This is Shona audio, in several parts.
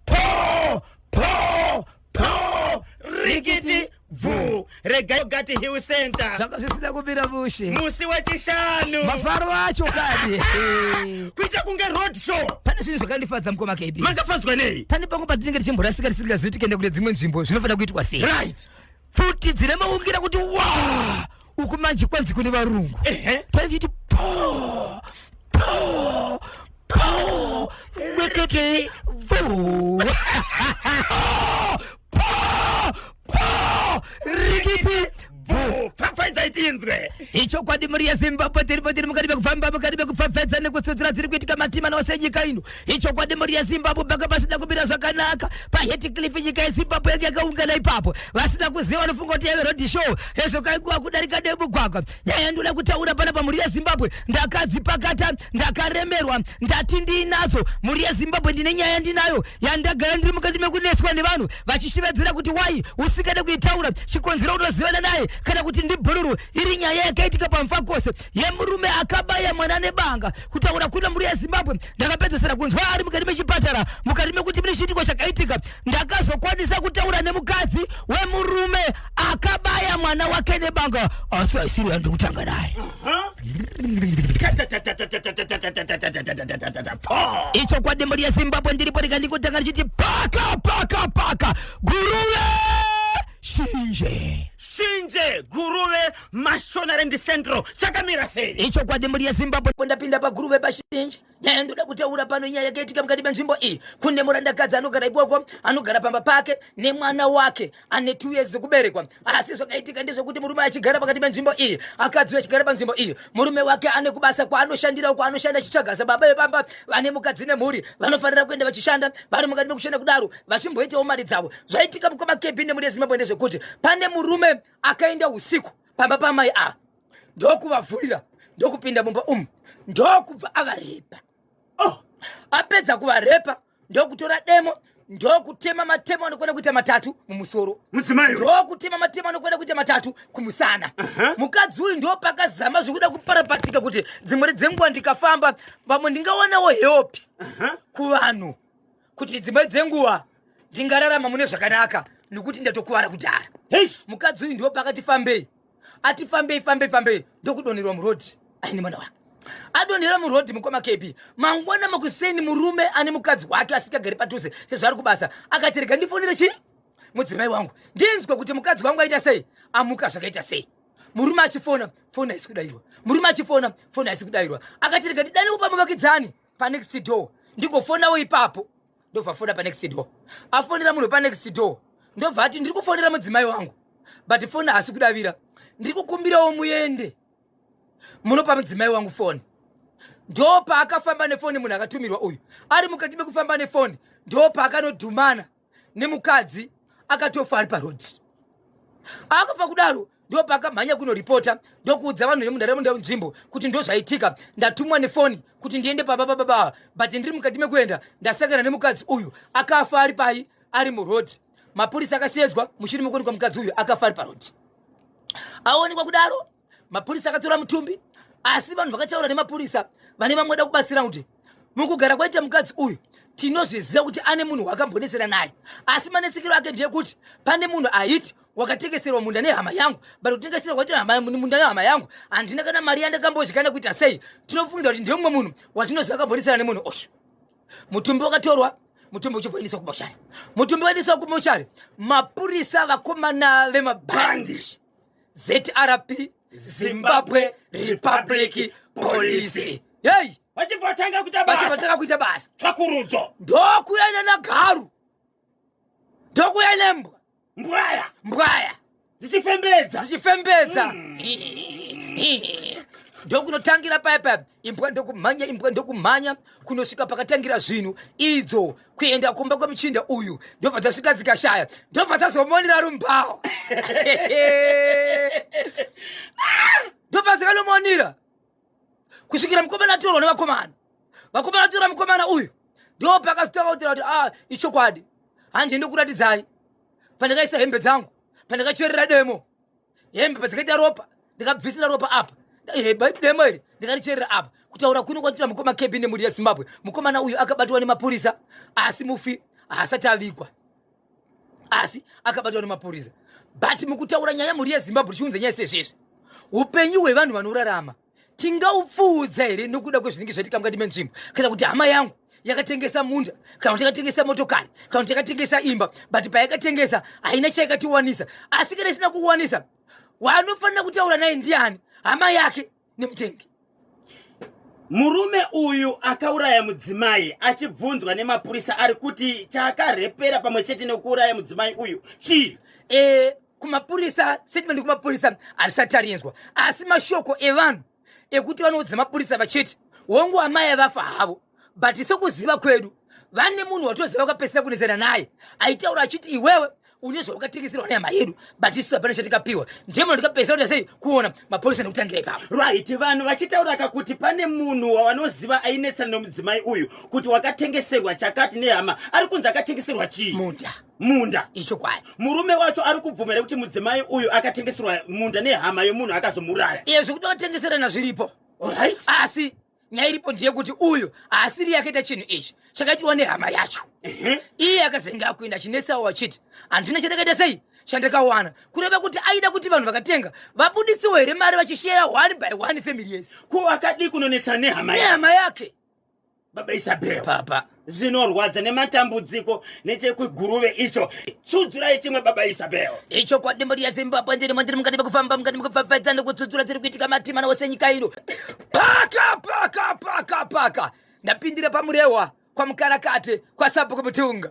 po po po rikiti bvu regai gati hill center zvanga zvisina kumira mushe musi wechishanu mafaro acho kani kuita kunge road show pane zvinhu zvakandifadza mukoma kb makafadzwa nei pane pangu patinenge tichimborasika tisingazivi tikenda kune dzimwe nzvimbo zvinofanira kuitwa sei right pfuti dzine maungira kuti wa uku manje kwanzi kune varungu Ehe. taichiti po po po mwekete vo po po rikiti Boo. Pfapfaidza itinzwe. ichokwadi mhuri yezimbabwe tiri patiri mukati mekufamba mukati mekupfapfadza nekutsutsura dziri kuitika matima nose nyika ino ichokwadi mhuri yezimbabwe panga pasina kumira zvakanaka paheticliff nyika yezimbabwe yange yakaungana ipapo vasina kuziva vanofunga kuti yave road show hezvo kainguva kudarika nemugwagwa nyaya yandoda kutaura pana pamhuri yezimbabwe ndakadzipakata ndakaremerwa ndati ndiinadzo mhuri yezimbabwe ndine nyaya yandinayo yandagara ndiri mukati mekunetswa nevanhu vachishevedzera kuti wai usingade kuitaura chikonzero unozivana naye kana kuti ndibhururu iri nyaya yakaitika pamfakose yemurume akabaya mwana nebanga kutaura kuna mhuri yezimbabwe ndakapedzesera kunzwa ari mukati mechipatara mukati mekuti mune chiitiko chakaitika ndakazokwanisa kutaura nemukadzi wemurume akabaya mwana wake nebanga asi aisiri yandiri kutanga naye icho kwadi mhuri yezimbabwe ndiripo rika ndikutanga richiti paka paka paka guruve shinje shinje guruve Mashonare ndi Central chakamira sei? Ichokwadi mburi yeZimbabwe. Ndapinda paguru vepashinji nyaya ndoda kutaura pano nyaya yakaitika mukati menzvimbo iyi kune murandakadzi anogara ikoko anogara pamba pake nemwana wake ane two years dzekuberekwa asi zvakaitika ndezvekuti murume achigara pakati penzvimbo iyi akadzi achigara panzvimbo iyi murume wake ane kubasa kwaanoshandirawo kwaanoshanda achitsvaga sababa vepamba vane mukadzi nemhuri vanofanira kuenda vachishanda vari mukati mekushanda kudaro vachimboitawo mari dzavo zvaitika mukoma kebi nemuri yezimbabwe ndezvekuti pane murume akaenda usiku pamba pamai ava ndokuvavhurira ndokupinda mumba umu ndokubva avarepa oh apedza kuvarepa ndokutora demo ndokutema matemo anokwana kuita matatu mumusoro ndokutema matemo anokwana kuita matatu kumusana mukadzi uyu ndopakazama zvekuda kuparapatika kuti dzimwere dzenguva ndikafamba vamwe ndingawanawo heopi kuvanhu kuti dzimwe dzenguva ndingararama mune zvakanaka nokuti ndatokuvara kudhara hei mukadzi uyu ndiwo pakati fambei ati fambei fambei fambei ndokudonherwa murodhi aine mwana wake adonhera murodhi mukoma kepi mangwana makuseni murume ane mukadzi wake asingagari padhuze sezvaari kubasa akati rega ndifonere chii mudzimai wangu ndinzwe kuti mukadzi wangu aita sei amuka zvakaita sei murume achifona foni haisi kudairwa murume achifona foni haisi kudairwa akati rega ndidane kupa muvakidzani panext door ndigofonawo ipapo ndobva afona panext door afonera munhu panext door ndobva ati ndiri kufonera mudzimai wangu but foni haasi kudavira ndiri kukumbirawo muende munopa mudzimai wangu foni ndopaakafamba nefoni munhu akatumirwa uyu ari mukati mekufamba nefoni ndopaakanodhumana nemukadzi akatofa ari parodhi akafa kudaro ndopakamhanya kunoripota ndokuudza vanhu vemunharaunda nzvimbo kuti ndozvaitika ndatumwa nefoni kuti ndiende paba bababa but ndiri mukati mekuenda ndasangana nemukadzi uyu akafa ari pai ari muroad mapurisa akasheedzwa mushure mekuonekwa mukadzi uyu akafa ari paroad aonekwa kudaro mapurisa akatora mutumbi asi vanhu vakataura nemapurisa vane vamwe da kubatsira kuti mukugara kwaita mukadzi uyu tinozviziva kuti ane munhu wakambonesera naye asi manetsekero ake ndeyekuti pane munhu aiti wakatengeserwa munda nehama yangu but kutengeserwa kwaita munda nehama yangu handina kana mari yandakambodyikana kuita sei tinofungidza kuti ndemumwe munhu watinoziva akambonesera nemunhu osho mutumbi wakatorwa mutumbi uchimboendeswa kumochari mutumbi waendeswa kumochari mapurisa vakomana vemabhandishi zrp zimbabwe republic police yei vachibvatanga kuita basa vachibvatanga kuita basa tsvakurudzo ndokuya nanagaru ndokuya nembwa mbwaya mbwaya dzichifembedza dzichifembedza hmm. ndokunotangira paipa imbwa ndokumhanya imbwa ndokumhanya kunosvika pakatangira zvinhu idzo kuenda kumba kwemuchinda uyu ndobva dzasvika dzikashaya ndobva dzazomonera rumbawo ndobva dzikanomonira kusvikira mukomana atorwa nevakomana vakomana atora mukomana uyu ndo pakazotanga kutaura kuti a ah, ichokwadi handi ndikuratidzai pandakaisa hembe dzangu pandakacherera demo hembe padzakaita ropa ndikabvisira ropa apa demo iri ndikaricherera apa kutaura kuno kwatira mukoma kb nemhuri yezimbabwe mukomana uyu akabatwa nemapurisa asi mufi haasati avigwa asi akabatwa nemapurisa but mukutaura nyaya mhuri yezimbabwe tichiunza nyaya sezvezvi upenyu hwevanhu vanorarama tingaupfuudza here nokuda kwezvinenge zvaitika mukati menzvimbo kana kuti hama yangu yakatengesa munda kana kuti yakatengesa motokari kana kuti yakatengesa imba but payakatengesa haina chayakatiwanisa asi kana isina kuwanisa waanofanira kutaura naye ndiani hama yake nemutengi murume uyu akauraya mudzimai achibvunzwa nemapurisa ari kuti chaakarepera pamwe chete nekuuraya mudzimai uyu chii e, kumapurisa statement kumapurisa harisati arinzwa asi mashoko evanhu ekuti vanoudza mapurisa vachiti hongu amai avafa havo but sekuziva kwedu vane munhu watoziva vakapesera kunetsana naye aitaura achiti iwewe une zvawakatengeserwa nehama yedu but isu hapana chatikapiwa ndimo ndikapesera kuti sei kuona mapurisa nekutangira ipapo right vanhu vachitaura ka kuti pane munhu wavanoziva ainetsana nemudzimai uyu kuti wakatengeserwa chakati nehama ari kunzi akatengeserwa chii muda munda ichokwadi murume wacho ari kubvumira kuti mudzimai uyu akatengeserwa munda nehama yomunhu akazomuraya iye zvekutotengeserana zviripo orit asi nyaya iripo ndeyekuti uyu haasiri yakaita chinhu ichi chakaitirwa nehama yacho iye akazenge akuenda achinetsawo achiti handina chandakaita sei chandakawana kureva kuti aida kuti vanhu vakatenga vabuditsiwo here mari vachishera one by one family yes ko akadii kunonetsana nehama nehama yake baba isabel papa zvinorwadza nematambudziko nechekwiguruve icho tsudzurai chimwe baba isabel icho kwadimbo riya zimbabwe ndirimo ndiri mukati mekufamba mukati mekupfapfaidza nekutsudzura dziri kuitika matimana wose nyika ino paka paka paka paka ndapindira pamurehwa kwamukarakate kwasabhuku mutunga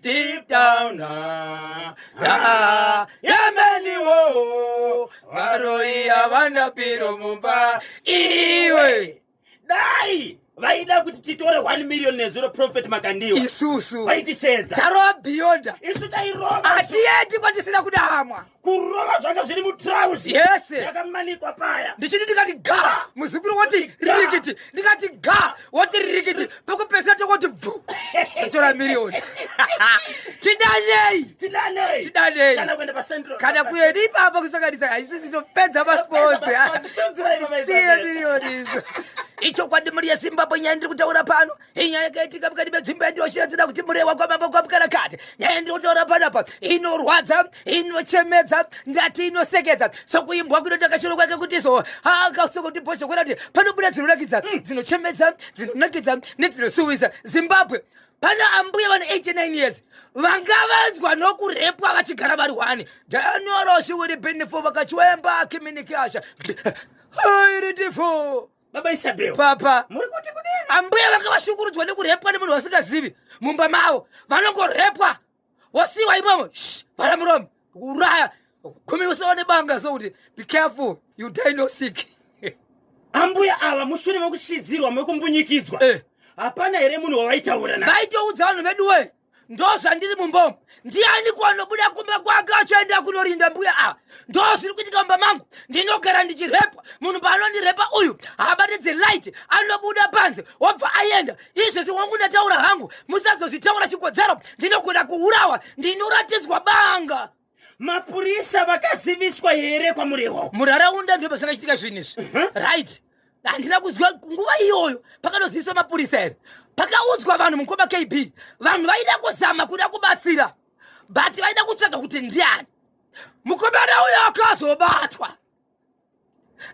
deep down ah, ah, yameni wo varoi havana piro mumba iwe dai vaida kuti titore 1 million nezuro prophet makandiwa isusu vaitishedza tarova beyonda isu tairova hatiyendi kwatisina kuda hamwa kurova zvanga zviri mutrauzi yes yakamanikwa paya ndichiti ndikati ga muzukuru woti rikiti ndikati ga woti rikiti pekupesera tokoti bvu atora miriyoni tidanei tidanei tidanei kana kuenda pacentral kana kuenda ipapo kusanganisa haisi zvinopedza masports siye miriyoni izo ichokwadi mhuri yezimbabwe nyaya ndiri kutaura pano inyaya yakaitika mukati medzvimbo yandinoshiradzira kuti murewa kwamambo kwamukana kati nyaya yandinotaura panapa inorwadza inochemedza ndati inosekedza sokuimbwa kunoita kashoro kwake kuti so akasokuti bhozho kwena kuti panobuda dzinonakidza mm. dzinochemedza dzinonakidza nedzinosuwisa zimbabwe pana ambuya vane 89 years vangavanzwa nokurepwa vachigara vari wani danyoroshi wiri benefo vakachiwemba akiminikasha iritifo baba isabel papa muri kuti kudini ambuya vanga vashungurudzwa nekurepwa nemunhu vasingazivi mumba mavo vanongorepwa wosiwa imomo vhara muromo uraya kumi usawa nebanga so kuti be careful you die no sick ambuya ava mushure mekushidzirwa mekumbunyikidzwa eh. hapana here munhu wavaitaura na vaitoudza vanhu veduwe ndozvandiri mumbomo ndiani kwanobuda kumba kwake achienda kunorinda mbuya ava ah, ndozviri kuitika mumba mangu ndinogara ndichirepwa munhu paanondirepa uyu habate dzelight anobuda panze wobva aenda izvezvi wangu ndataura hangu musazozvitaura chikodzero ndinogona kuurawa ndinoratidzwa banga mapurisa vakaziviswa here kwamurehwa muraraunda ndipo zvakachitika zvinhu izvi uh-huh. right handina kuziva nguva iyoyo pakanoziviswa mapurisa here pakaudzwa vanhu mukoma kb vanhu vaida kuzama kuda kubatsira but vaida kutsvaga kuti ndiani mukomana uyo akazobatwa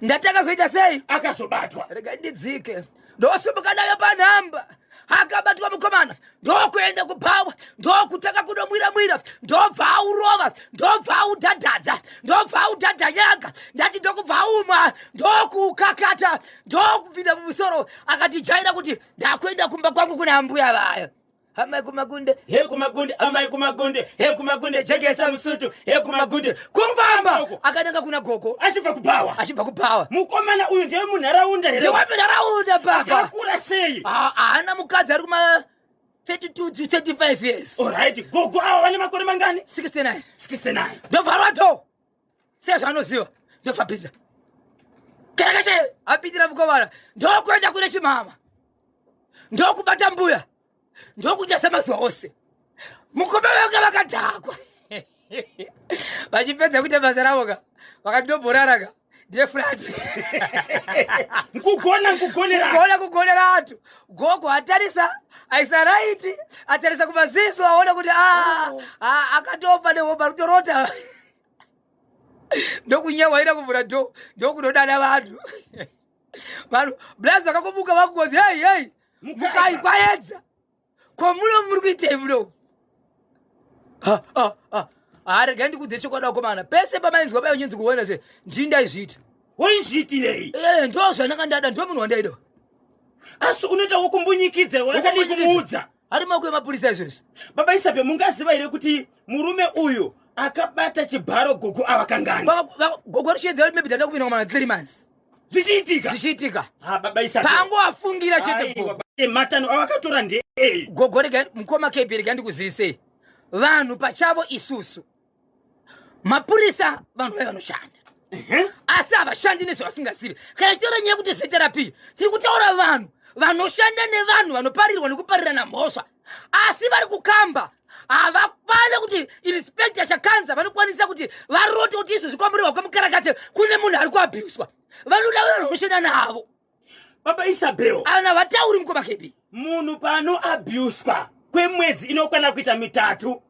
ndati akazoita sei akazobatwa rega ndidzike ndosimuka nayo panhamba akabatwa mukomana ndokuenda kubhawa ndokutanga kunomwira mwira ndobva aurova ndobva audhadhadza ndobva audhadhanyaga ndati ndokubva aumwa ndokuukakata ndokupinda mumusoro akatijaira kuti ndakuenda kumba kwangu kuna ambuya vaya amai kumagunde he kumagunde amai kumagunde he kumagunde jekesa musutu he kumagunde kufamba uko akananga kuna gogo achibva kubhawa achibva kubhawa mukomana uyu ndiye munharaunda here ndewamunharaunda baba akakura sei Ah, haana mukadzi ari kuma 32 to 35 years olright gogo ava vane makore mangani 69 69 ndovharwa dho sezvaanoziva ndobva pinda kereke chaiyo apindira mukovara ndokuenda kune chimama ndokubata mbuya ndokuita semazuva ose mukoma vake vakadhakwa vachipedza kuita basa ravo ka vakatobhorara ka ndeflat nkugona nkugoneraona kugonera antu gogo atarisa aisa raiti atarisa kumaziso aona kuti ah, oh. ah, akatopa nehoba rutorota ndokunyewaira kuvhura do ndokunodana vanhu vanhu blaz vakakomuka vakukozi hei hei mukai kwaedza kwamuno muri kuitei muno haregai ndikudze chokwadi vakomana pese pamainzwa pai unyinzi kuona se ndii ndaizviita waizviitirei eh, ndo zvananga ndada ndo munhu wandaida asi unoita wokumbunyikidza wakadii kumuudza ari maoko emapurisa izvozvi baba isape mungaziva here kuti murume uyu akabata chibharo gogo ava kangani gogo richiedzera kuti maybe tata kupinda kumana three months zvichiitika zvichiitika ha baba isape pango afungira chete gogo matano awakatora ndei gogo rega mukoma kb rega ndikuzivisei vanhu pachavo isusu mapurisa vanhu vai vanoshanda asi havashandi nezvavasingazivi kana tichitaura nyaya yekuti zita rapii tiri kutaura vanhu vanoshanda nevanhu vanoparirwa nekuparirana mhosva asi vari kukamba havakwane kuti inspector chakanza vanokwanisa kuti varote kuti izvo zvikwamburirwa kwemukarakate kune munhu ari kuabhuswa vanoda vanhu vanoshanda navo baba isabel ana vatauri mukoma kebi munhu pano abuswa kwemwedzi inokwana kuita mitatu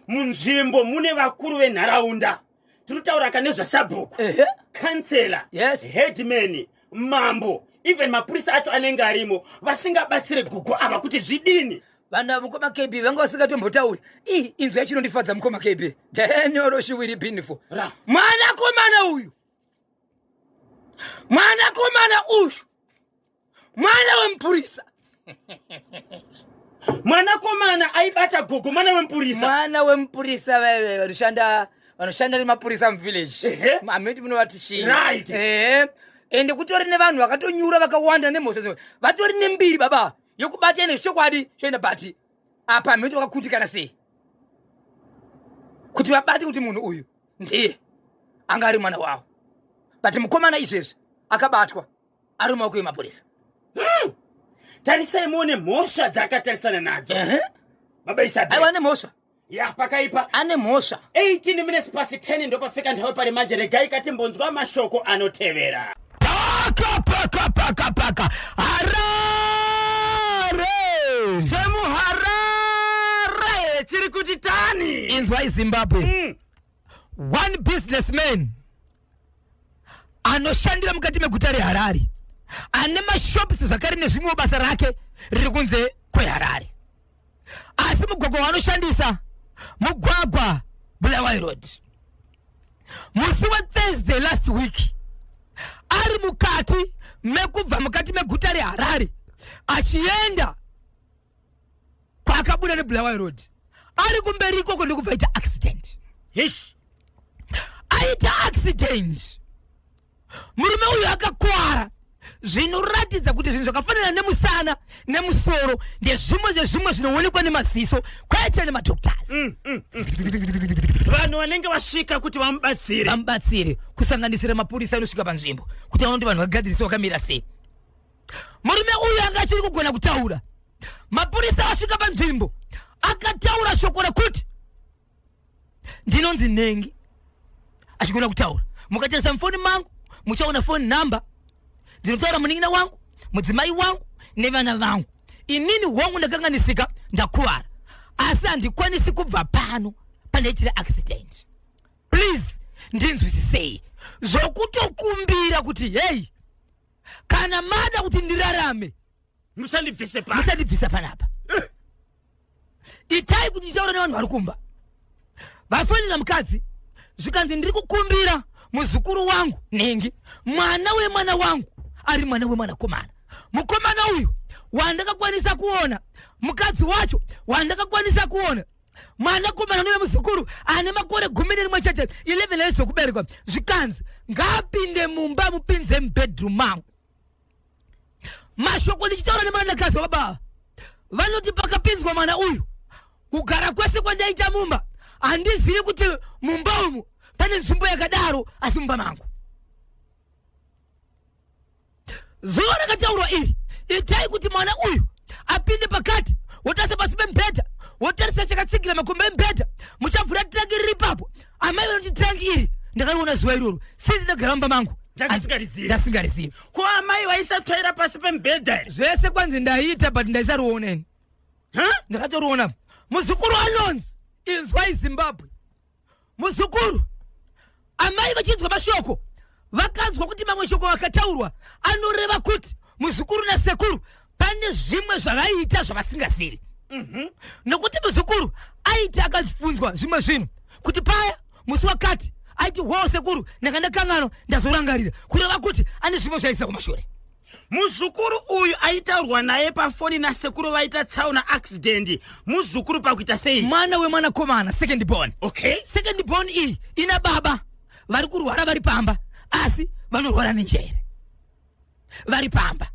munzvimbo mune vakuru venharaunda tiri kutaura ka nezvasabhuku kansela yes. headman mambo even mapurisa acho anenge arimo vasingabatsire gugu ava kuti zvidini vanhu ava mukoma kb vanga vasingatombotauri i inzwi yachinondifadza mukoma kb danyoro shiwiri binifo mwanakomana uyu mwanakomana uyu mwana wemupurisa mwanakomana aibata gogo mwana wemupurisa mwana wemupurisa vaive vanoshanda vanoshanda nemapurisa muvillage mameti munovati chii right ende kutori nevanhu vakatonyura vakawanda nemhosva vatori nembiri baba yokubata ine zvichokwadi choenda bati apa hameno kuti wakakutikana sei kuti vabate kuti munhu uyu ndiye anga ari mwana wavo but mukomana izvezvi akabatwa ari mumaoko emapurisa hmm. tarisai muone mhosva dzaakatarisana nadzo baba isaaiwa ane mhosva ya pakaipa ane mhosva 18 minutes pasi 10 ndopafika nthawe pari manje regai katimbonzwa mashoko anotevera paka paka paka paka harare chemuharare chiri kuti tani inzwai zimbabwe mm. one businessman anoshandira mukati meguta reharare ane mashopisi zvakare nezvimwewo basa rake riri kunze kweharare asi mugwagwa wanoshandisa mugwagwa bulawayo road musi wethursday last week ari mukati mekubva mukati meguta reharare achienda kwaakabuda nebulawayo road ari kumberi ikoko ndikubva aita accident hish aita accident murume uyu akakwara zvinoratidza kuti zvinhu zvakafanana nemusana nemusoro ndezvimwe zvezvimwe zvinoonekwa nemaziso kwete nemadoctors mm, mm, mm. vanhu vanenge vasvika kuti vamubatsire vamubatsire kusanganisira mapurisa anosvika panzvimbo kuti vaona kuti vanhu vagadzirise vakamira sei murume uyu anga achiri kugona kutaura mapurisa asvika panzvimbo akataura shoko rekuti ndinonzi nhengi achigona kutaura mukatarisa mufoni mangu muchaona foni nhamba dzinotaura munin'ina wangu mudzimai wangu nevana vangu inini hongu ndakanganisika ndakuvara asi handikwanisi kubva pano pandaitira accident please ndinzwisisei zvokutokumbira kuti heyi kana mada kuti ndirarame musandibvise pa musandibvisa panapa itai kuti nditaura nevanhu vari kumba vafonera mukadzi zvikanzi ndiri kukumbira muzukuru wangu nhingi mwana wemwana wangu ari mwana wemwanakomana mukomana uyu wandakakwanisa kuona mukadzi wacho wandakakwanisa kuona mwanakomana unoye muzukuru ane makore gumi nerimwe chete 11 years okuberekwa zvikanzi ngaapinde mumba mupinze mubedroom mangu mashoko ndichitaura nemwanakazi wababa vanoti pakapinzwa mwana uyu kugara kwese kwandaita mumba handizivi kuti mumba umu pane nzvimbo yakadaro asi mumba mangu zuva rakataurwa iri itai kuti mwana uyu apinde pakati wotarisa pasi pemubhedha wotarisa chakatsigira makumbo emubhedha muchavhura tiraki riri ipapo amai vanoti tangi iri ndakariona zuva iroro sinzi ndagara mumba mangu Ndakasingarizivi. ndasingarizivi ko amai vaisatsvaira pasi pemubhedha here zvese kwanzi ndaiita but ndaisariona ini Ha? ndakatoriona muzukuru anonzi inzwai zimbabwe muzukuru amai vachinzwa mashoko vakanzwa kuti mamwe shoko akataurwa anoreva kuti muzukuru nasekuru pane zvimwe zvavaiita zvavasingazivi mhm. nokuti muzukuru aiti akabvunzwa zvimwe zvinhu kuti paya musi wakati aiti hoo sekuru ndanga ndakanganwa ndazorangarira kureva kuti ane zvimwe zvaisa kumashure muzukuru uyu aitaurwa naye pafoni nasekuru vaita tsaona accident muzukuru pakuita sei mwana wemwanakomana second born okay second born iyi ina baba vari kurwara vari pamba asi vanorwara nenjere vari pamba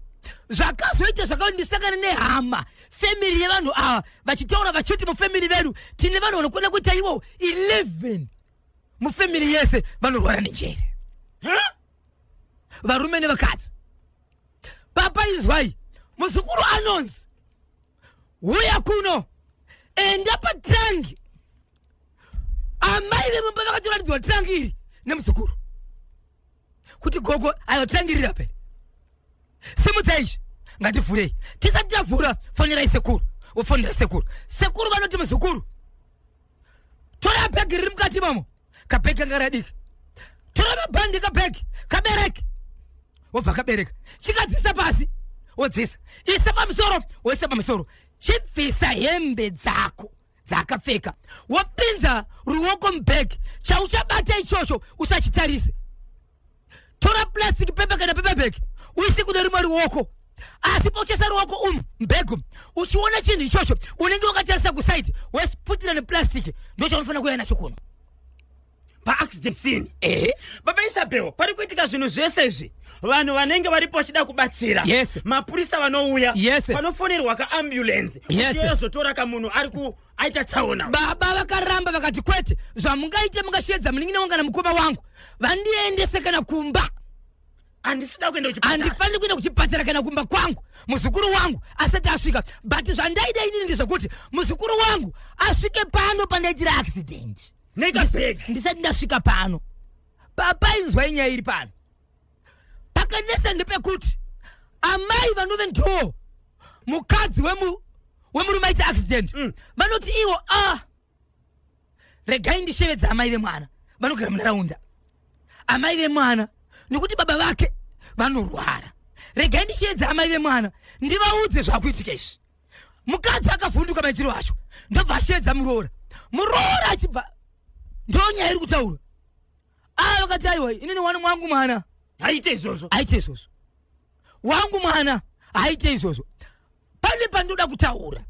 zvakazoita zvakawa ndisangane nehama family yevanhu ava vachitaura vachiti mufamily vedu tine vanhu vanokwana kuita iwo 11 mufamily yese vanorwara nenjere huh? varume nevakadzi papa inzwai muzukuru anonzi huya kuno enda patangi amai vemumba vakatoratidzwa tangi iri nemuzukuru kuti gogo ayo tangi riri apeni simudza izvi ngativhurei tisati tavhura fonerai sekuru vofonera sekuru sekuru vanoti muzukuru tora bhegi riri mukati mamo kabhegi kanga radiki tora mabhandi kabhegi kabereki wobva kabereka chikadzisa pasi wodzisa isa pamusoro woisa pamusoro chibvisa hembe dzako dzaakapfeka wopinza ruoko mubhegi chauchabata ichocho usachitarise tora plastic pepa kana pepa bag uise kune rimwe ruoko asi pauchesa ruoko umu mbegu uchiona chinhu ichocho unenge wakatarisa kusaidi wesiputira neplastic ndochaunofanira kuuya nacho kuno paaccident scene ehe baba isabel pari kuitika zvinhu zvese izvi vanhu vanenge varipo vachida kubatsira yes mapurisa vanouya yes panofonerwa kaambulensi yes. uchiyozotora kamunhu ari ku aita tsaona baba vakaramba vakati kwete zvamungaite mungashedza munin'ina wanga namukoma wangu vandiendese kana kumba handisida kuenda kuchipatara handifaniri kuenda kuchipatara kana kumba kwangu muzukuru wangu asati asvika but zvandaida inini ndezvekuti muzukuru wangu asvike pano pandaitira accident nekaseka ndisati ndasvika pano papa inzwai nyaya iri pano pakanetsa ndepekuti amai vanove ndoo mukadzi wemu wemurume aita accident mm. vanoti mm. iwo ah regai ndishevedza amai vemwana vanogara munharaunda amai vemwana nekuti baba vake vanorwara regai ndishevedza amai vemwana ndivaudze zvakuitika izvi mukadzi akavhunduka maitiro acho ndobva ashevedza muroora muroora achibva ndonyaya iri kutaura aa vakati aiwa inini wani wangu mwana haite izvozvo haite izvozvo wangu mwana haite izvozvo pane pandoda kutaura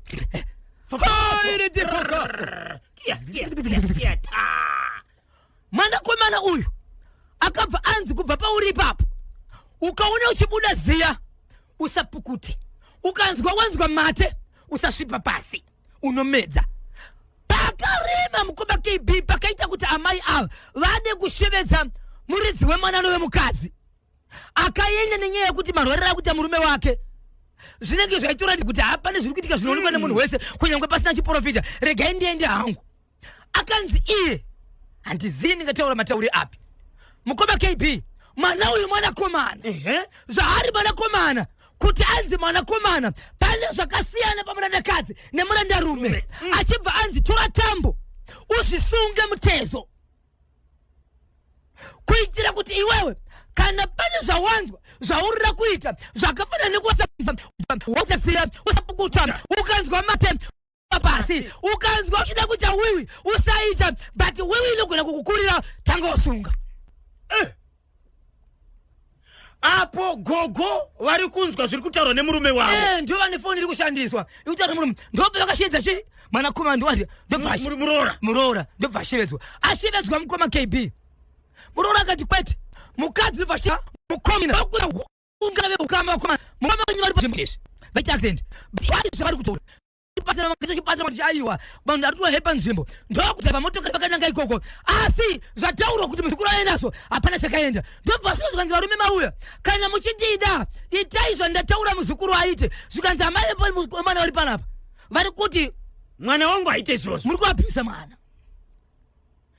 mwanakomana uyu akabva anzi kubva pauri ipapo ukaona uchibuda ziya usapukute ukanzwa wanzwa mate usasvipa pasi unomedza pakarema mukoma kb pakaita kuti amai ava vade kushevedza muridzi wemwana anove mukadzi akaenda nenyaya yekuti marwariro akuita murume wake zvinenge zvaitorati kuti hapane zviri kuitika zvinoonekwa nemunhu wese kunyange pasina chiporofita regai ndiende hangu akanzi iye handizivi ndingataura matauri api mukoma kb mwana uyu mwanakomana zvaari mwanakomana kuti anzi mwanakomana pane zvakasiyana pamurandakadzi nemurandarume mm. achibva anzi tora tambo uzvisunge mutezo kuitira kuti iwewe kana pane zvawanzwa zvaurira kuita zvakafanana nekusaziva ukanzwa mate pasi ukanzwa uchida kuita wiwi usaita but wiwi inogona kukukurira tanga usunga eh. apo gogo vari kunzwa zviri kutaurwa nemurume wavo eh, ndo vane foni iri kushandiswa ikutaura murume ndope vakashedza chi mwanakomana ndowati ndobvamuroora muroora ndobva ashevedzwa ashevedzwa mukoma kb muroora akati kwete mukadzi ndobva mukomina ungana veukama ukama mukama wenyu vari pazvimutesi vaita accident bari zvavari kutora chibatsira mangisa chibatsira kuti aiwa vanhu arituwa hepa nzvimbo ndokuti pamotokari vakananga ikoko asi zvataurwa kuti muzukuru aendaso hapana chakaenda ndobva zvino zvikanzi varume mauya kana muchidida itai zvandataura muzukuru aite zvikanzi amai vemwana vari panapa vari kuti mwana wangu aite izvozvo muri kuapisa mwana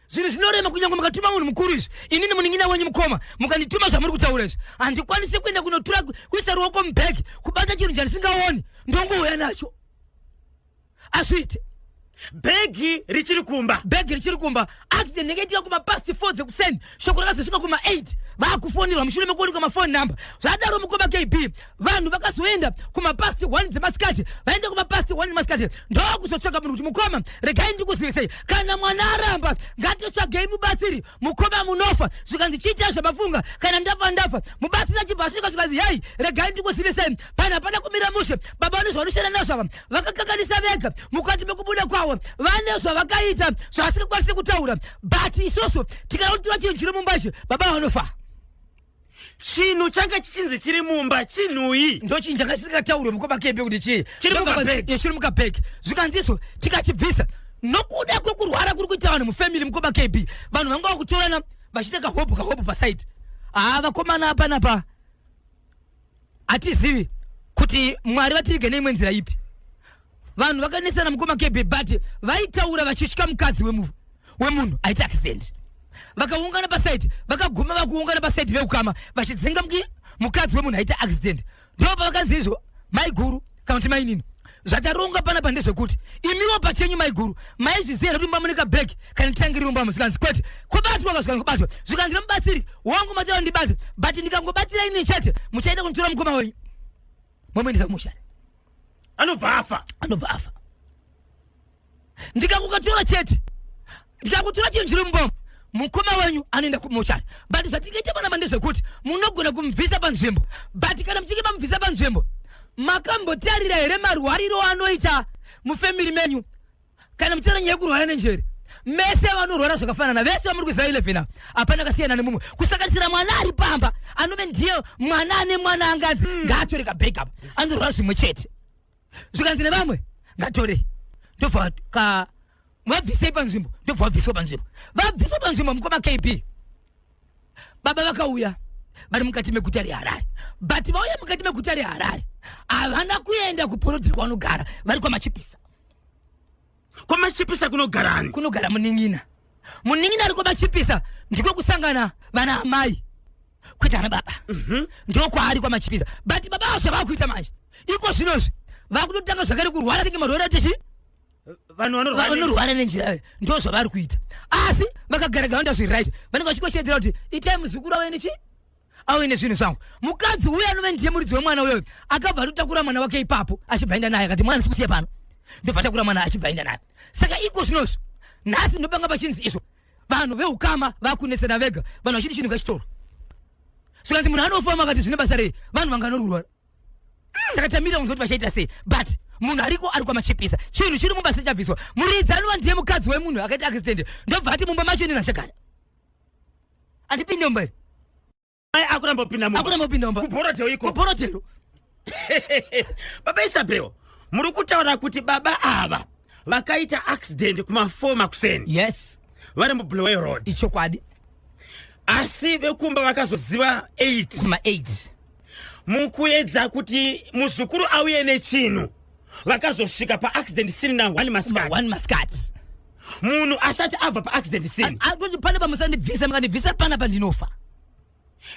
zvinhu zvinorema kunyange mukatuma munhu mukuru izvi ini nemuningina wenyu mukoma mukandituma zvamuri kutaura izvi handikwanisi kuenda kunotura kuisa ruoko mubag kubata chinhu chandisingaoni ndongouya nacho azviite bhegi richiri kumba bhegi richiri kumba accident yenge itika kuma past 4 dzekuseni shoko rakazosvika kuma 8 vaakufonirwa mushure mekuonekwa mafoni number zvadaro mukoma kb vanhu vakazoenda kumapasti 1 dzemasikati vaenda kumapasti 1 dzemasikati ndokuzotsvaga munhu kuti mukoma regai ndikuzivisei kana mwana aramba ngatotsvagei mubatsiri mukoma munofa zvikanzi chiitai zvamafunga kana ndafa ndafa mubatsiri achibva asvika zvikanzi hei regai ndikuzivisei pana pana kumira mushe baba vane zvavanoshanda nazvo ava vakakanganisa vega mukati mekubuda kwavo vane zvavakaita zvavasingakwanisi kutaura but isusu tikanotiwa chinhu chiri mumba ichi baba vanofa chinhu changa chichinzi chiri mumba chinhuyi ndochinhu changa chisingataurwe mukoma kebe kuti chii Chiri Ndokabva mukabag. nzi- eh, chiri mukabheki zvikanzi izvo tikachibvisa nokuda kwekurwara kuri kuita vanhu mufamily mukoma kb vanhu vanga vakutorana vachiita kahopu kahopu pasaidi haa vakomana apanapa hatizivi kuti mwari vativige neimwe nzira ipi vanhu vakanesana mukoma kebe but vaitaura vachitya mukadzi wemunhu aita accident vakaungana pasaidi vakaguma vakuungana pasaidi veukama vachidzinga mukadzi wemunhu aita accident ndopavakanzi izvo maiguru kana kuti mainini zvataronga panapa ndezvekuti imiwo pachenyu maiguru maizviziva here kuti mumba mune kabhegi kana nditangiri mumba musikanzi kwete kobatwa ka zvikanzi kobatwa zvikanzi nomubatsiri wangu matava ndibate but ndikangobatsira ini chete muchaita kunditora mukoma wenyu momuendesa kumushari anobva afa anobva afa ndikakukatora chete ndikakutora chinhu chiri muboma mukoma wenyu anoenda kumochari but zvatingaita panapa ndezvekuti munogona kumubvisa panzvimbo but kana muchinge mamubvisa panzvimbo makambotarira here marwariro anoita mufemiri menyu kana muchitaura nyaya yekurwara nenjere mese vanorwara zvakafanana vese vamuri kuziva 11 ava hapana kasiyana nemumwe kusanganisira mwana ari pamba anove ndiye mwana ane mwana anganzi ngaatore kabhegi apa anorwara zvimwe chete zvikanzi nevamwe ngatore ndobva ka vabvisei panzvimbo ndobva vabviswa panzvimbo vabviswa panzvimbo mukoma kb baba vakauya vari mukati meguta reharare but vauya mukati meguta reharare havana kuenda kuporodhiri kwanogara vari kwamachipisa kwamachipisa kunogara ani kunogara munin'ina munin'ina ari kwamachipisa ndiko kusangana vana amai kuita ana baba mhm. ndiko kwaari kwamachipisa but baba avo zvavava kuita manje iko zvinozvi vakutotanga zvakare kurwara senge marwere atichi vanhu vanorwara nenjira ndo zvavari kuita asi vakagara gavanda zviri right vanenge vachikoshedzera kuti itai muzukuru wavo inichi auye nezvinhu zvangu mukadzi uye anove ndiye muridzi wemwana uyoyo akabva atotakura mwana wake ipapo achibva enda naye akati mwana sikusiya pano ndobva atakura mwana achibva enda naye saka iko zvinozvo nhasi ndopanga pachinzi izvo vanhu veukama vakunetsana vega vanhu vachiti chinhu ngachitoro zvikanzi munhu anofama akati zvine basa rei vanhu vanganorurwa saka tamira kunzoti vachaita sei but munhu ariko ari kwamachipisa chinhu chiri mumba sechabviswa muridzi anova ndiye mukadzi wemunhu akaita accident ndobva ati mumba macho inenachagara andipinde mumba iri mai akuramba kupinda mumba akuramba kupinda mumba kuborotero iko kuborotero baba isabel muri kutaura kuti baba ava vakaita accident kumafoma kuseni yes vari mublowe road ichokwadi asi vekumba vakazoziva 8 kuma 8 mukuedza kuti muzukuru auye nechinhu vakazosvika paaccident siri na 1 masikati masikati munhu asati abva paaccident scene atoti pane pamusandibvisa mukandibvisa pana pandinofa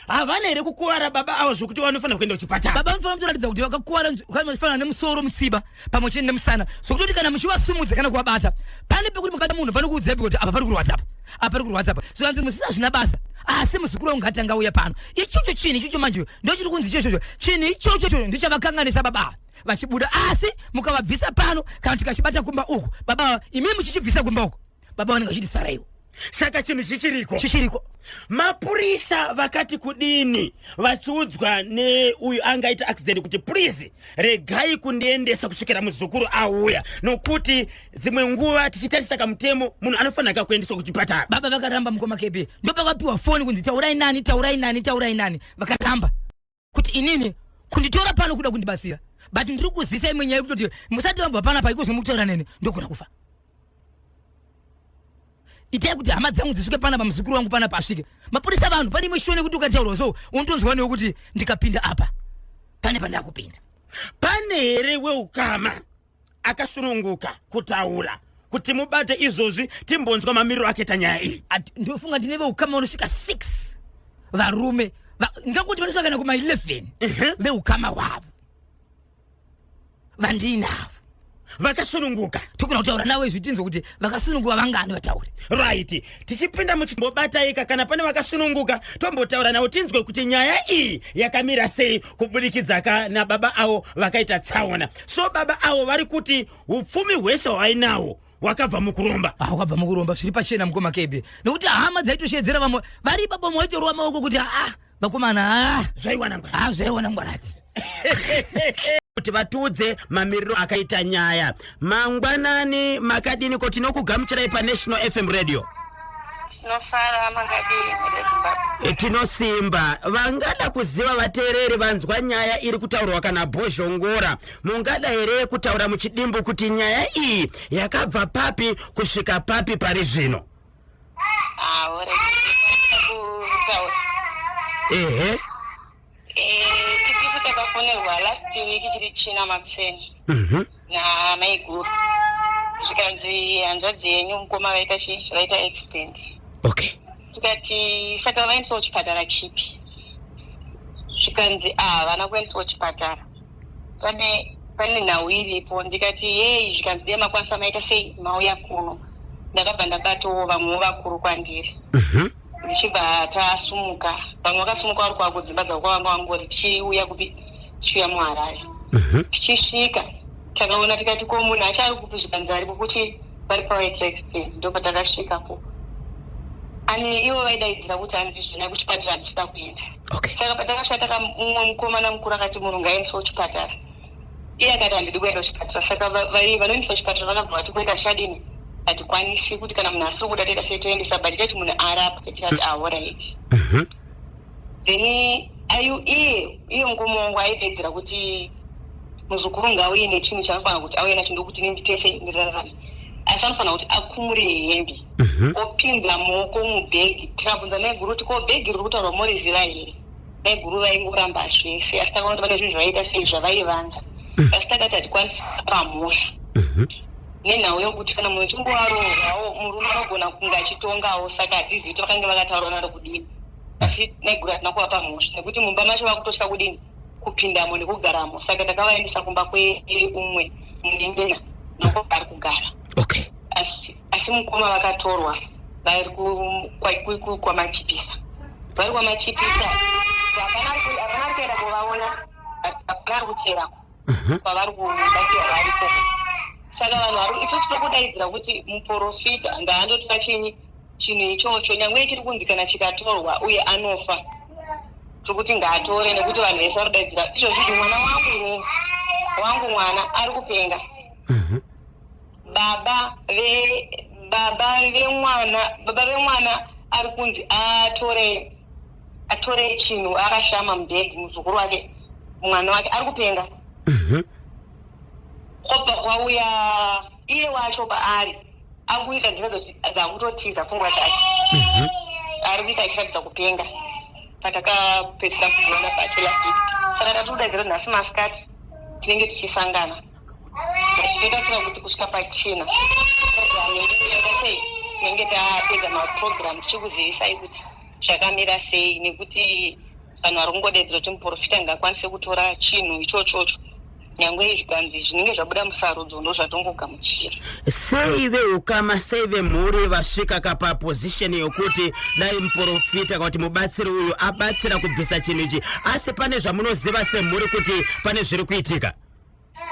havana here kukuvara baba avo zvokuti vanofanira kuenda kuchipatara baba vanofanira kutoratidza kuti vakakuvara vanofanira nemusoro mutsiba pamwe chete nemusana zvokutoti kana muchivasumudza kana kuvabata pane pekuti mukata munhu panokuudzaipi kuti apa pari kurwadzapo apa pari kurwadzapo zvikanzi musina zvina basa asi muzukuru wangu ngatanga uya pano ichocho chinhu ichocho manje ndochiri kunzi ichochocho chinhu ichochocho ndichavakanganisa baba ava vachibuda asi mukavabvisa pano kana tikachibata kumba uku baba imi muchichibvisa kumba uku baba vanenge vachiti saraiwo saka chinhu chichiriko chichiriko mapurisa vakati kudini vachiudzwa neuyu angaita accident kuti please regai kundiendesa kusvikira muzukuru auya nokuti dzimwe nguva tichitarisa kamutemo munhu anofanira ka kuendeswa kuchipatara baba vakaramba mukoma kb ndopakapiwa foni kunzi taurai nani taurai nani taurai nani vakaramba kuti inini kunditora pano kuda kundibatsira but ndiri kuzisa imwe nyaya yekutoti musati vambwa panapa ikozi mukutaura nene ndogona kufa itai kuti hama dzangu dzisvike panapa muzukuru wangu panapa asvike mapurisa vanhu pane imwe shona yekuti ukataurwa so unotonzwa newekuti ndikapinda apa pane pandakupinda pane here weukama akasununguka kutaura kuti mubate izvozvi timbonzwa mamiriro ake tanyaya iyi ndofunga tine veukama vanosvika 6 varume ndingakuti vanosvika kana kuma 11 veukama hwavo vandinavo vakasununguka tokona kutaura navo izvi tinzwe kuti vakasununguka vangani vatauri right tichipinda muchimbobataika kana pane vakasununguka tombotaura navo tinzwe kuti nyaya iyi yakamira sei kuburikidza ka nababa avo vakaita tsaona so baba avo vari kuti upfumi hwese hwainahwo wakabva mukuromba ah, wakabva mukuromba zviri pachena mukoma kebe nokuti hama dzaitoshedzera vamwe vari baba mwaitorowa maoko kuti aa vakomana aa zvaiwana ngwara aa zvaiwana ngwarati kuti vatiudze mamiriro akaita nyaya Mangwanani makadini ko tinokugamuchirai paNational FM Radio. Tinofara makadini reZimbabwe. E, Tinosimba vangada kuziva vateereri vanzwa nyaya iri kutaurwa kana bhozhongora mungada here kutaura muchidimbu kuti nyaya iyi yakabva papi kusvika papi pari zvino Ah, ore. Kutaura. ehe Tisisu takafonerwa last week chiri china makuseni Mhm. namaiguru zvikanzi hanzvadzi yenyu mukoma vaita chi vaita accident okay tikati saka vaendisawo chipatara chipi zvikanzi ah, havana kuendisawo chipatara pane pane nhau iripo ndikati yei zvikanzi dee makwanisa maita sei mauya kuno ndakabva ndakatowo vamwewo vakuru kwandiri Mhm. ndichibva tasumuka vamwe vakasumuka vari kwavo kudzimba dzavo kwavanga vangori tichiuya kupi tichiuya muharare Mhm. tichisvika takaona tikati ko munhu acho ari kupi zvikanzi ari kukuti vari pawaitexperience ndo patakasvikapo ani ivo vaidaidzira kuti anzi zvina kuchipatara handisina kuenda okay saka patakasvika taka mumwe mukomana mukuru akati munhu ngaendeswa kuchipatara iye akati handidi kuenda kuchipatara saka vaive vanoendesa kuchipatara vakabva vati kuenda chadini hatikwanisi kuti kana munhu asiri kuda toita sei toendesa but tati munhu arapwe tikati ahoraiti ah, mhm. then ayu iye iye mukoma wangu aidedzera kuti muzukuru ngauye nechinhu chanofanira kuti auye nacho ndokuti nini tese ndirarame asi anofanira kuti akumure hembe mhm. opinza moko mubhegi tikabvunza naiguru kuti ko bhegi riri kutaurwa moriziva here maiguru vaingoramba zvese asi takaona kuti pane zvinhu zvaiita sei zvavaivanza mhm. asi takati hatikwanisi kupa mhosva mhm. nenhau yokuti kana munhu chingovaroorwawo murume anogona kunge achitongawo saka hatizivi kuti vakange vakataura naro kudini asi maiguru hatina kuvapa mhosva nekuti mumba macho vakutotya kudini kupindamo nekugaramo saka takavaendesa kumba kweumwe munyengena noko ari kugara okay asi mukoma vakatorwa vari kwamachipisa vari kwamachipisa havana kuenda kuvaona hapana ari kucherako kwavari kubatsira variko saka vanhu vari isusu tiri kudaidzira kuti muprofita ngaandotipa chinyi chinhu ichocho nyange chiri kunzi kana chikatorwa uye anofa tiri kuti ngaatore nekuti vanhu vese vari kudaidzira izvozvizvi mwana wangu wangu mwana ari kupenga baba ve baba vemwana baba vemwana ari kunzi atore atore chinhu akashama mubhegi muzukuru wake mwana wake ari kupenga Mhm. kwobva kwauya iye wacho paari akuita dzimwe dzoti dzakutotiza pfungwa dzake Mhm. ari kuita achiratidza kupenga patakapedzisa kuona pacho last week saka tatikuda zero nhasi masikati tinenge tichisangana totarisira kuti kusvika pachina sei tinenge tapedza maprogram tichikuzivisai kuti zvakamira sei nekuti vanhu vari kungodedzera kuti muprofita ngakwanise kutora chinhu ichochocho nyange izvi kanzi zvinenge zvabuda musarudzo ndo zvatongogamuchira sei veukama sei vemhuri vasvika kapa position yokuti dai muprofita kana kuti mubatsiri uyu abatsira kubvisa chinhu ichi asi pane zvamunoziva semhuri kuti pane zviri kuitika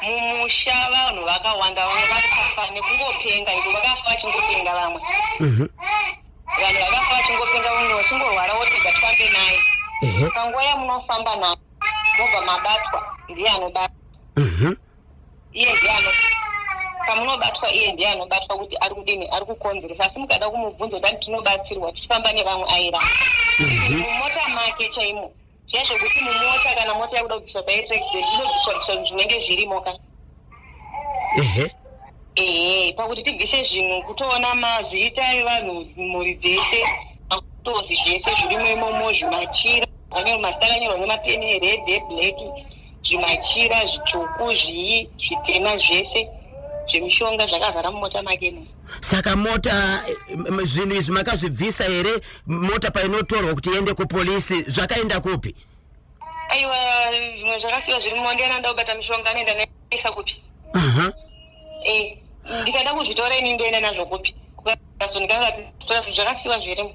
mumusha vanhu vakawanda vamwe vakafa nekungopenga iko vakafa vachingopenga vamwe Mhm. vanhu vakafa vachingopenga vamwe vachingorwara wotiga tifambe naye Ehe. panguva yamunofamba naye mobva mabatwa ndiye anobatwa Mhm. iye ndiye ano pamunobatwa iye ndiye anobatwa kuti ari kudini ari kukonzeresa asi mukada kumubvunza kuti tinobatsirwa tichifamba nevamwe aira mumota make chaimo Zviya zvekuti mumota kana mota yakuda kubviswa paye president inobviswa bviswa zvinhu zvinenge zvirimo ka. Ehe. Ehe, pakuti tibvise zvinhu kutoona mazita evanhu mhuri dzese makutozi zvese zvirimo imomo zvimachira anyo mazita akanyorwa nemapeni ered eblack zvimachira zvitsvuku zvii zvitema zvese zvemishonga zvakavhara mumota make ne. saka mota zvinhu izvi makazvibvisa here mota painotorwa kuti iende kupolisi zvakaenda kupi aiwa zvimwe zvakasiwa zviri mumondi anoda kubata mishonga anoenda naisa kupi eh, ndikada kuzvitora ini ndoenda nazvo kupi zvakasiwa zvirimo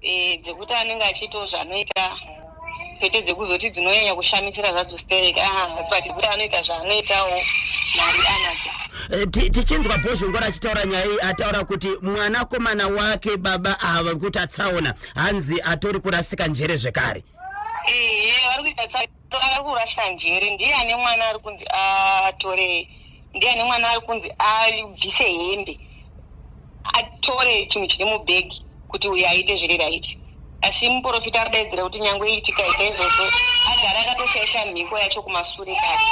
e, dzekuti anenge achiitawo zvaanoita kwete dzekuzoti dzinonyanya kushamisira zvadzo sterek ah, but kuti anoita zvaanoitawo mari anadzo Eh, ti- tichinzwa bhozhongora achitaura nyaya iyi ataura kuti mwanakomana wake baba ava kuti atsaona hanzi atori kurasika njere zvekare ehe vari kuita tsa- Tava kurasa njere ndiye ane mwana ari kunzi atore ndiye ane mwana ari kunzi abvise hembe atore chinhu chiri mubhegi kuti uyo aite zviri raiti asi muprofita arudaidzira kuti nyange iitika ita izvozvo agara akatoshaisa mhiko yacho kumasure kake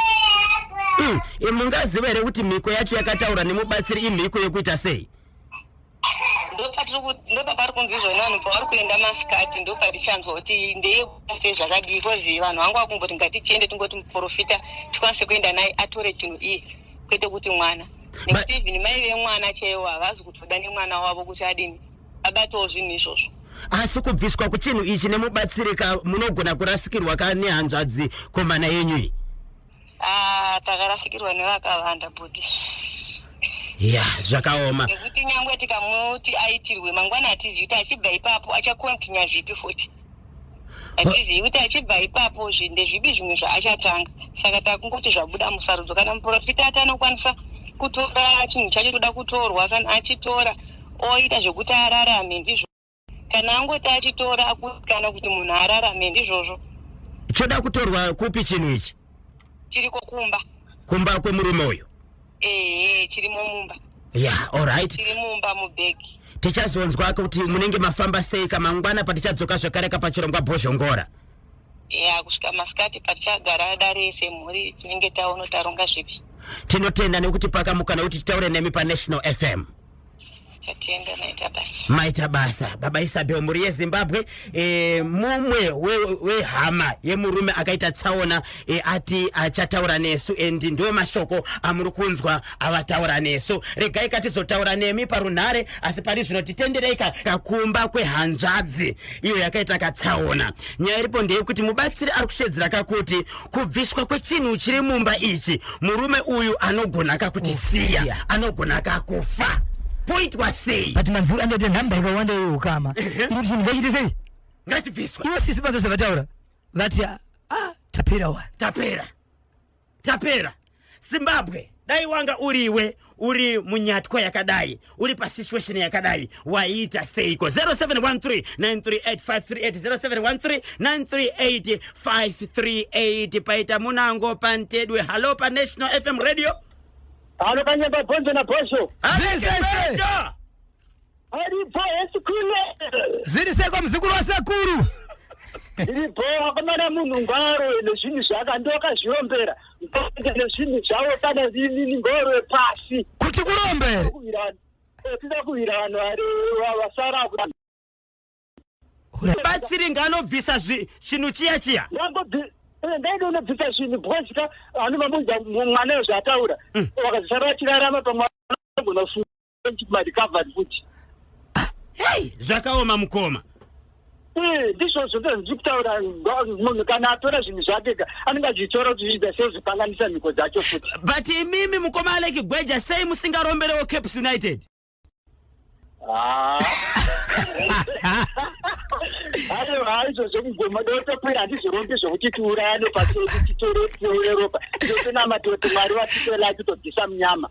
mm. mungaziva here kuti mhiko yacho yakataura nemubatsiri imhiko yekuita sei ndopapari kunzi izvona vanhu pavari kuenda masikati ndopatichanzwa kuti ndeyekuse zvakadii bcause vanhu vangu vakumboti ngatichiende tingoti muprofita tikwanise kuenda naye atore chinhu iye kwete kuti mwana nekuti even mai vemwana chaiwo havazi kutoda nemwana wavo kuti adini abatawo zvinhu izvozvo asi kubviswa kuchinhu ichi nemubatsirika munogona kurasikirwa ka nehanzvadzi komana yenyu iyi Ah, takarasikirwa nevakavanda bhuti ya zvakaoma nekuti nyangwe tikamuti aitirwe mangwana hatizivi kuti achibva ipapo achakontinya zvipi futi hatizivi kuti achibva ipapo zvi- ndezvipi zvimwe zvaachatanga saka takungoti zvabuda musarudzo kana muprofita ati anokwanisa kutora chinhu chacho toda kutorwa kana achitora oita zvekuti ararame ndizvo kana angoti achitora akusikana kuti munhu ararame ndizvozvo choda kutorwa kupi chinhu ichi chiriko kumba kumba kwemurume uyu ehe chirimo mumba yeah alright chiri mumba mubhegi tichazonzwa kuti munenge mafamba sei kamangwana patichadzoka zvakare kapachirongwa bhozhongora ya kusvika masikati patichagara dare semhuri tinenge taono taronga zvipi tinotenda nekuti pakamukana kuti titaure nemi paNational FM maita basa baba isabel mhuri yezimbabwe e, mumwe wehama we yemurume akaita tsaona e, ati achataura nesu and ndo mashoko amuri kunzwa avataura nesu regai katizotaura nemi parunhare asi pari zvino titenderei kakumba kwehanzvadzi iyo yakaita katsaona nyaya iripo ndeyekuti mubatsiri ari kushedzera kakuti kubviswa kwechinhu chiri mumba ichi murume uyu anogona kakutisiya anogona kakufa poitwa sei but manzuru angaite nhamba ikawanda iyo ukama iri chinhu ngachiite sei ngachibviswa ivo sisi bazo zvavataura vati ah, ah, tapera wa tapera tapera Zimbabwe dai wanga uriwe uri munyatwa yakadai uri pasituation yakadai waiita seiko 0713938538 0713938538 paita munango pantedwe halo panational fm radio halo kanyamba bhonzo nabhosho Halo, Zesese. Chibhebho! aripo esikule zviri sei kwamuzukuru wasekuru iripo akomana munhu ngwaroe nezvinhu zvaka ndokazvirombera ndoende nezvinhu zvavo kana inini ngoroe pasi kuti kurombere kuwira tida kuwira vanhu vari wa- vasara kuti batsiri ngaanobvisa zvi- chinhu chiya chiya ndangobvi eh, ndaida unobvisa zvinhu because ka vanhu vamuudza mwana ezvaataura vakazisara vachirarama pamwe anogona kufunga futi hei zvakaoma mukoma eh, ndizvozvo ndiri kutaura munhu kana atora zvinhu zvake ka anenge achitora kuti zviita sei zvipanganisa mhiko dzacho futi but imimi mukoma aleki gweja sei musingaromberewo caps united ah. aiwa haizvo zvekugoma dotokwira handizvirombi zvokuti tiurayane paseku titore tiuye ropa totonamatote mwari vatitela titobvisa munyama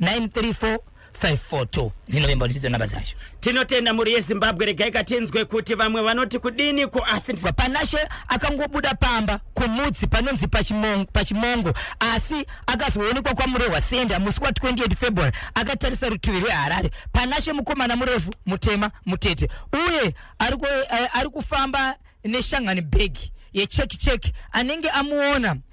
934 542 ndinovimba ndichidzo nhamba dzacho tinotenda mhuri yezimbabwe regai katinzwe kuti vamwe vanoti kudini ko asi ndisa- panashe akangobuda pamba kumudzi panonzi pachimong- pachimongo asi akazoonekwa kwamurohwa senda musi wa 28 february akatarisa rutivi rweharare panashe mukomana murefu mutema mutete uye ari ku- eh, ari kufamba neshangani bhegi yecheki cheki anenge amuona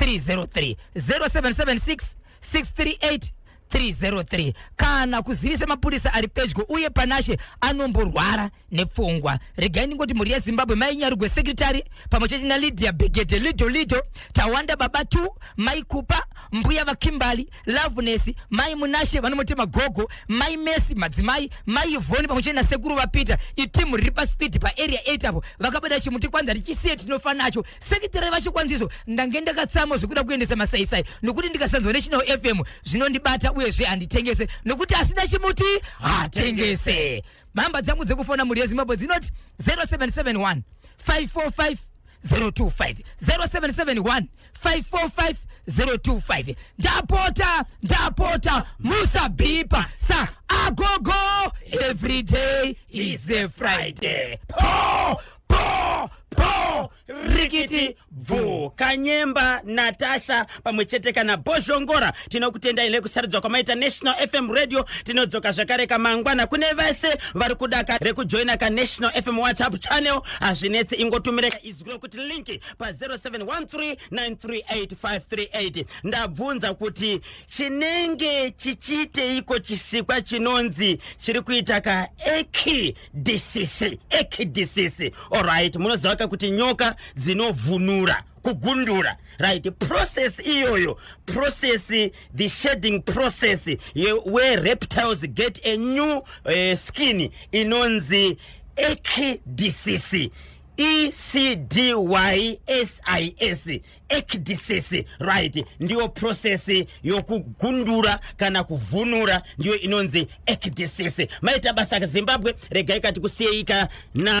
303 0776 638 303 kana kuzivisa mapurisa ari pedyo uye panashe anomborwara nepfungwa regai ndingoti mhuri yezimbabwe mai nyarugwe sekretary pamwe chete nalidia begede lido lido tawanda baba t mai kupa mbuya vakimbali loveness mai munashe vanomotema gogo mai mesi madzimai mai ivhoni pamwe chete nasekuru vapita itimu riri paspeed paarea 8 apo vakabada chimuti kwanza richisiye tinofa nacho sekitera yevachikwandiso ndange ndakatsamo zvekuda kuendesa masaisai nokuti ndikasanzwa nechinawo fm zvinondibata uyezve handitengese nokuti asina chimuti hatengese mhamba dzangu dzekufona mhuri yezimbabwe dzinoti 0771 545 025 0771 545 025 ndapota ndapota musabhipa sa agogo every day is a friday po rikiti bvu kanyemba natasha pamwe chete kana bozhongora tinokutendai nekusarudza kwamaita national fm radio tinodzoka zvakare kamangwana kune vese vari kudaka rekujoina kanational fm whatsapp channel hazvinetsi ingotumireka izwi rokuti linki pa 0713938538 ndabvunza kuti chinenge chichiiteiko chisikwa chinonzi chiri kuita ka eki disisi ekidisisi orit munoziva ka kuti nyoka dzinovhunura kugundura right process iyoyo process the shading process where reptiles get a new uh, skin inonzi ekidisisi ecdysis ekdisisi right ndiyo prosesi yokugundura kana kuvhunura ndiyo inonzi ekdisisi maita basa zimbabwe regai kati kusiyeika na